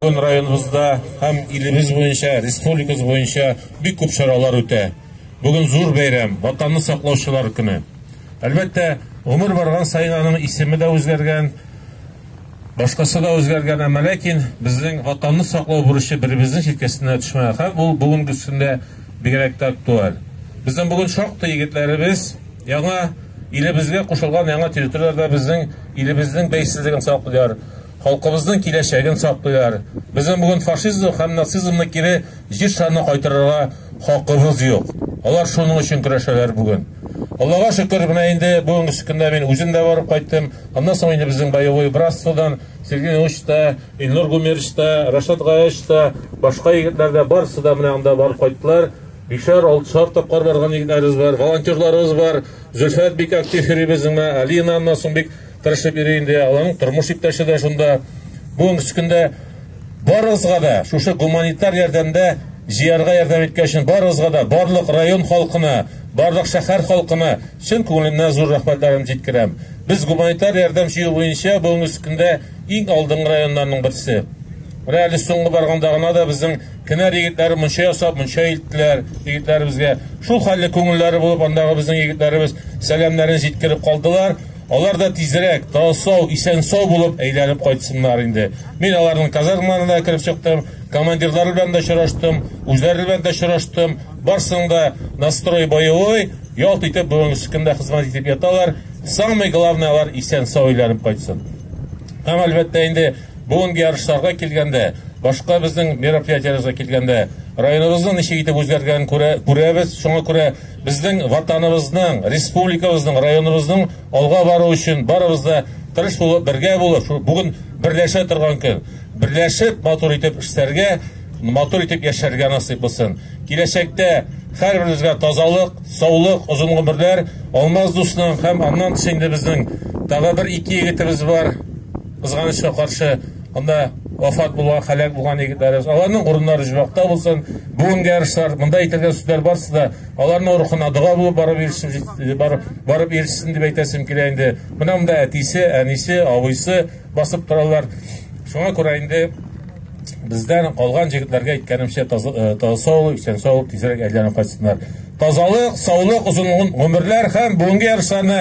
Бүген районыбызда һәм илебез буенча, республикабыз буенча бик күп чаралар үтә. Бүген зур бәйрәм, Ватанны саклаучылар көне. Әлбәттә, гомер барган саен аның исеме дә үзгәргән, башкасы да үзгәргән, әмма ләкин безнең Ватанны саклау бурычы беребезнең җилкәсенә төшмәгән һәм ул бүгенгесендә бигрәк тә актуаль. Безнең бүген шактый егетләребез яңа илебезгә кушылган яңа территорияләрдә безнең илебезнең бәйсезлеген саклыйлар. Халкыбызның киләчәген саклыйлар. Безнең бүген фашизм һәм нацизмны кире җир шарына кайтарырга хакыбыз юк. Алар шуның өчен көрәшәләр бүген. Аллага шөкер, менә инде бүгенге көндә мин үзем дә барып кайттым. Аннан соң инде безнең боевой братстводан Сергей Ильич та, Илнур Гумерч та, Рашат Гаяч та, башка егетләр дә барысы да менә анда барып кайттылар. Бишәр, алтышар тапкыр барган егетләребез бар, волонтерларыбыз бар. Зөлфәт бик актив йөри безнең, Алина аннан соң бик тырышып йөри инде, аларның тормыш иптәше дә шунда. Бүгенге көнче көндә барыгызга да шушы гуманитар ярдәмдә җыярга ярдәм иткән өчен барыгызга да, барлык район халкына, барлык шәһәр халкына чын күңелемнән зур рәхмәтләрем җиткерәм. Без гуманитар ярдәм җыю буенча бүгенге көнче көндә иң алдынгы районнарның берсе. Менә әле соңгы барганда гына да безнең Кенәр егетләре мунча ясап, мунча илттеләр егетләребезгә. Шул хәлле күңелләре булып, андагы безнең егетләребез сәламнәрен җиткереп калдылар. Алар да тизрәк, тау-сау, исән-сау булып әйләнеп кайтсыннар инде. Мин аларның казармаларына да кереп чыктым, командирлар белән дә очраштым, үзләре белән дә очраштым. Барсының да настрой боевой, ялт итеп бүгенге секундә хезмәт итеп яталар. Самый главный алар исән-сау әйләнеп кайтсын. Һәм әлбәттә инде бүгенге ярышларга килгәндә, башка безнең мероприятиеләргә килгәндә, районыбызның ничек итеп үзгәргәнен күрә, күрәбез. Шуңа күрә Безнең Ватаныбызның, республикабызның, районыбызның алга баруы өчен барыбыз да тырыш булып, бергә булып, шул бүген берләшә торган көн. Берләшеп, матур итеп эшләргә, матур итеп яшәргә насыйп булсын. Киләчәктә һәрберебезгә тазалык, саулык, озын гомерләр, Алмаз дусның һәм аннан тыш инде безнең тагы бер ике егетебез бар, кызганычка каршы. Монда вафат булган, һәлак булган егетләребез, аларның урыннары җибакта булсын. Бүгенге ярышлар, монда әйтелгән сүзләр барысы да аларның рухына дога булып барып ирсен, барып, барып ирсен дип әйтәсем килә инде. Менә монда әтисе, әнисе, абыйсы басып торалар. Шуңа күрә инде бездән калган җегетләргә әйткәнемчә таза э, саулык, исән саулык, тизрәк әйләнеп кайтсыннар. Тазалык, саулык, озын гомерләр һәм бүгенге ярышларны